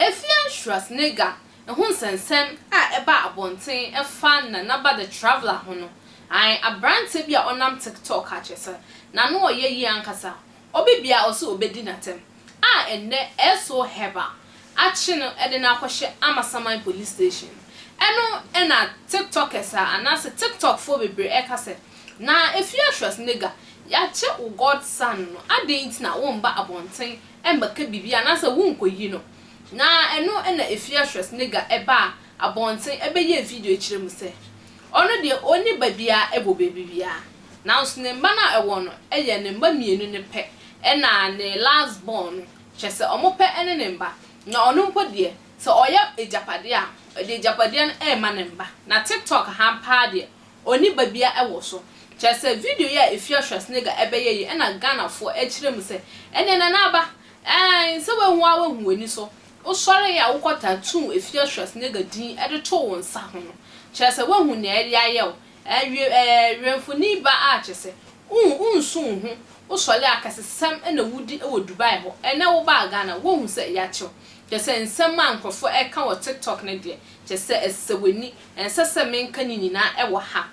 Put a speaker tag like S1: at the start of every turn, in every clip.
S1: Efia Schwarzenegger ho nsɛnsɛm a ɛbaa abɔnten fa Nanaba the Traveler ho no, ae, aberante bi a ɔnam TikTok akyerɛ sɛ n'ano ɔyɛ yie ankasa, Obi bia ɔse obedi natem a ɛnnɛ ɛɛsoo hɛba akye no de no akɔhyɛ Amasaman police station ɛno na tiktokers a anaase tiktok foɔ bebree ɛka sɛ na Efiatress nigga yagye wo god son no aden nti na womba abɔnten ɛmbɛka biribi anaase wonkɔyi no na ɛno na Efiatress nigga ɛbaa abɔnten ɛbɛyɛɛ video ɛkyerɛ mu sɛ ɔno deɛ ɔnni ba biaa ɛbɔ baabi biaa. nanso ne mma no a ɛwɔ no yɛ ne mma mmienu no pɛ ɛna ne last born no, kyerɛ sɛ wɔn pɛ ɛne ne mma, na ɔno mpo deɛ sɛ ɔyɛ agyapadeɛ a ɔde agyapadeɛ no ɛrema ne mma, na tiktok ha paa deɛ ɔnni ba biara ɛwɔ so, kyerɛ sɛ video yi a Efya Schwarzenegger ɛbɛyɛ yi ɛna Ghanafoɔ ɛkyerɛ mu sɛ ɛneɛ Nana Aba ɛɛn sɛ wahu ara wahu w'ani so, wosɔre yɛ a wokɔ tattoo Efya Schwarzenegger din ɛde too wo nsa ho no, kyerɛ sɛ wahu nea ɛde ayɛ wo, Ɛɛ ɛɛ wɛmfoni ba a kyesɛ won wonsu wo ho wo sɔle akasesɛm na wodi wɔ Dubai hɔ ɛnɛ wo baa Ghana woahu sɛ yakyew kyesɛ nsɛm a nkrɔfoɔ ɛka wɔ TikTok no deɛ kyesɛ ɛsesɛ wani ɛnsɛ sɛ menka ne nyinaa wɔ ha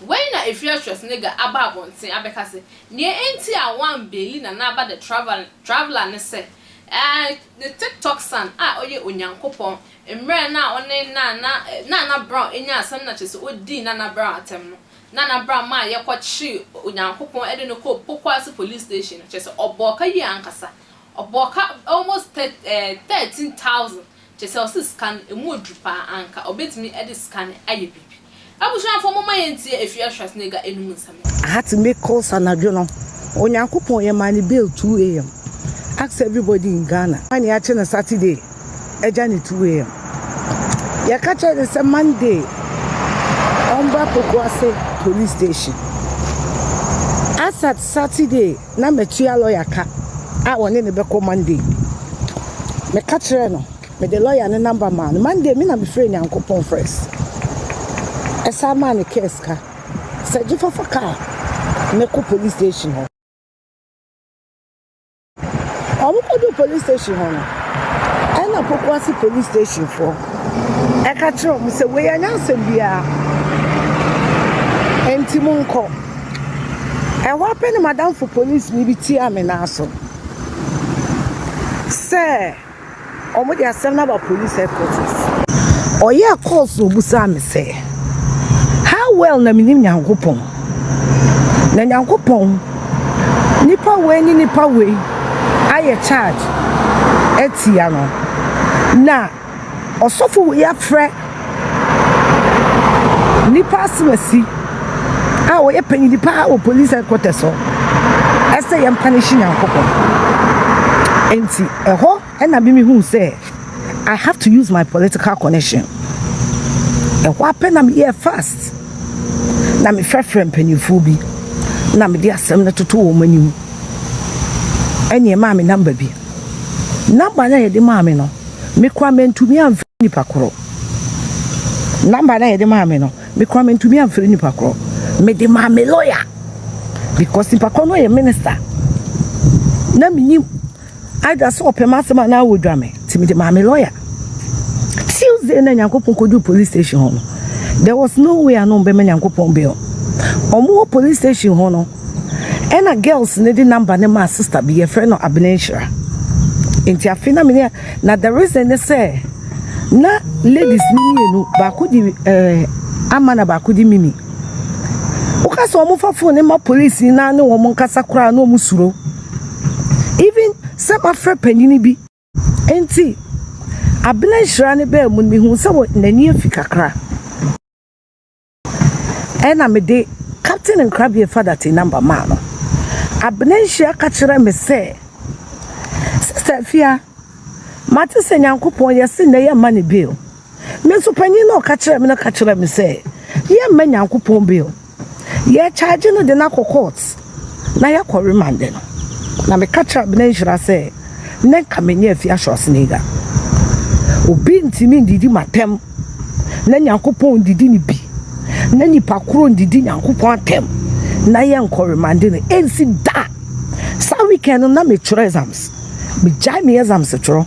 S1: wei na Efia Schwarzenegger aba abɔnten abɛka sɛ neɛ ɛnti a wan beili Nana Aba the traveller traveller ne sɛ ɛɛ ne TikTok son a ɔyɛ Onyankopɔn Mmerɛ no a ɔne Nana Nana Brown nyaa asɛm na kyerɛ sɛ ɔdii Nana Brown atɛm no, Nana Brown maa yɛkɔkyee Onyankopɔn de no kɔɔ Pokuase Police Station no, kyerɛ sɛ ɔbɔɔ ka yie ankasa. Ɔbɔɔ ka almost thir eh thirteen thousand, kyerɛ sɛ ɔse sika no, ɛmu ɔduru pa ara, anka ɔbɛtumi de sika no ayɛ biribi. Abusuafoɔ momma yɛntie Afua Schwarzenegger anum nsɛm no. I had to
S2: make calls anadwo no Onyankopɔn yɛmaa no bail 2am ask everybody in Ghana why ne akye no Saturday agya no 2am yɛka kyerɛɛ no sɛ Monday ɔmbra Pokuase police station as at Saturday na matua lawyer ka a ɔne no bɛkɔ Monday meka kyerɛɛ no Mede lɔya no number maa no. Monday me na me frɛɛ Nyankopɔn first. Ɛsan maa no car sika. Sɛ gye fa fa car no kɔ police station hɔ. Ɔmo kɔduu police station hɔ no, ɛna Pokuase police station foɔ ɛka kyerɛ ɔmo sɛ wei ɛnyɛ asɛm biara, ɛnti mo nkɔ. Ɛhɔ ara pɛ na madamfo police ni bi tia me nan so sɛ. Ɔmo de asɛm no aba police headquarters. Ɔyɛɛ calls na obusaa me sɛ, How well na minim Nyankopɔn? Na Nyankopɔn, nipa wei ne nipa wei ayɛ charge atia no, na ɔsɔfo wei afrɛ Nnipa asɛmasi a ɔyɛ panyin paa wɔ polis hɛdkɔtɛs hɔ sɛ yɛn panishe Nyankopɔn. Nti ɛhɔ na me me hu sɛ I have to use my political connection. Ɛhɔ apɛ na me yɛ fast na me frɛfrɛ mpanyinfoɔ bi na me de asɛm no toto wɔn anim. Ɛne ɛmaa me namba bi. Namba no a yɛde maa me no. Mekura mantumi amfiri nipa korɔ number na yɛde maa me no mekura mantumi amfiri nipa korɔ mede maa me lawyer because nipa korɔ no yɛ minister na menim either sɛ ɔpɛ m'asɛm anaa wɔdwa me nti mede maa me lawyer tuesday na nyankopɔn kɔduru police station hɔ no there was no way ano bɛma nyankopɔn bill ɔmo wɔ police station hɔ no Ɛna girls no de number no maa sister bi yɛfrɛ no Abenenhyira. Nti afei na mene na the reason ne sɛ na ladies no mmienu baako di ɛɛ eh, ama na baako di mimi. Woka sɛ wɔn fa phone ma police na ne wɔn nkasa koraa na wɔn suro. Even sɛ mafrɛ panyin bi. Nti Abenenhyira ne bɛɛ mu no mehu sɛ n'ani afi kakra. Ɛnna mede Captain Nkrabea Fadatte number maa no. Abena Nhyia ka kyerɛɛ me sɛ, Sister Afia, mate sɛ Nyankopɔn yɛ se nnɛ yɛmma no bail. Me nso panyin no a ɔka kyerɛɛ me no ka kyerɛɛ me sɛ yɛmma Nyankopɔn bail. Yɛkyagye no de no akɔ court. na yɛkɔ remande no, na meka kyerɛɛ Abena Nhyira sɛ nnɛ nka menyɛ Afia Schwarzenegger. Obi ntumi ndidi m'atɛm na Nyankopɔn ndidi ne bi, na nipa koro ndidi Nyankopɔn atɛm na yɛnkɔ remande no, ɛnsi da! Saa weekend no na metwerɛ exams, megyae me exams twerɛ,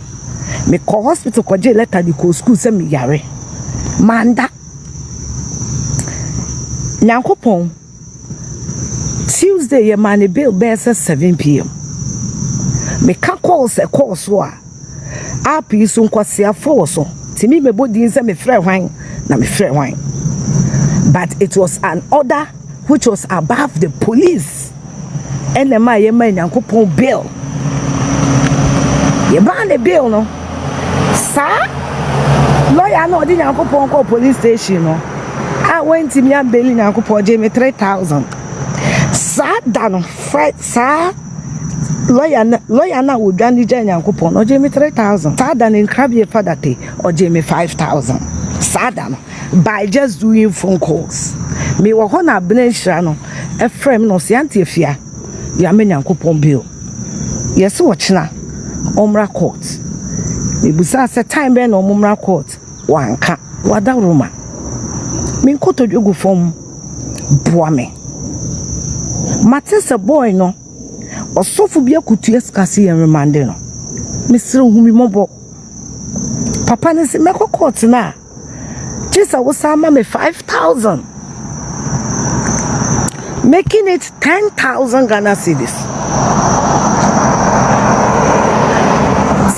S2: mekɔɔ hospital kɔgyee letter de kɔɔ school sɛ meyare, manda. Nyankopɔn. Tuesday yɛ maa ne bail bɛyɛ sɛ seven pm meka calls ɛkɔɔ so a app yi so nkwaseafo wɔ so tumi mɛbɔ din sɛ mefrɛ hwan na mefrɛ hwan but it was an order which was above the police ɛna ɛma yɛma nyankopɔn bail yɛmaa ne bail no saa lɔya no a ɔde nyankopɔn kɔɔ police station no a wɔntumi ambeli nyankopɔn ɔgye me 3000 saa da no fri saa lɔya no lɔya no a wɔdwa no gyaa nyankopɔn no ɔgye me 3000 saa da no nkrabie fadate ɔgye me 5000 saa da no by just doing phone calls mewɔ hɔ na abena nhyira no ɛfrɛ me na ɔsɛ ante afia yɛama nyankopɔn bill Yɛse ɔkyena ɔmmra court. Mebusaa sɛ time bɛn na ɔmo mmra court, wanka. Wadaworo ma me nkotodwe gu fam boa me. Mate sɛ boy no ɔsɔfo bi akotua sika se yɛn remande no. Mesrɛ hu me mmɔbɔ. Papa no se mɛkɔ court no a. Gye sɛ wosan ma me five thousand, making it ten thousand Ghana cedis.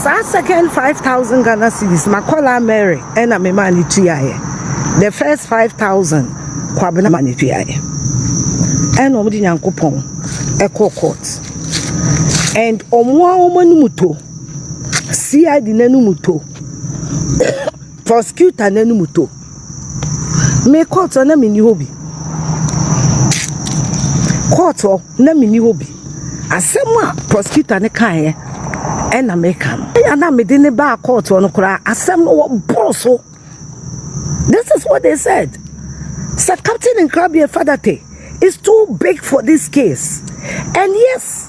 S2: Saa second five thousand Ghana cedis, makɔla Mary ɛna me maa ne tuaeɛ. The first five thousand, Kwabena ma ne tuaeɛ. Ɛna wɔn de Nyankopɔn ɛkɔ court. And wɔn a wɔn anum to, CID n'anum to. Prosecutor no anim tɔ. Me kɔɔto hɔ na menni hɔ bi. Kɔɔto hɔ na menni hɔ bi. Asɛm a prosecutor no kaeɛ ɛna meka no. Ɛna na mede no baa kɔɔto hɔ no koraa asɛm no wɔboro so. This is what they said. Sɛ Captain Nkrabea Fadate is too big for this case and yes.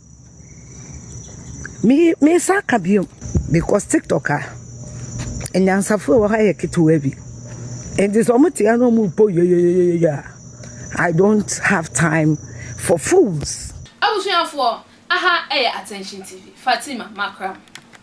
S2: Me me nsa aka bio because TikTok a, anyansafo a wɔwɔ ha yɛ ketewaa bi. Enti sɛ wɔte ha na wɔrebɔ yoyoyoyoyo a, I don't have time for fools.
S1: Abusuafoɔ, aha yɛ Attention TV,
S2: Fatima
S1: Makram.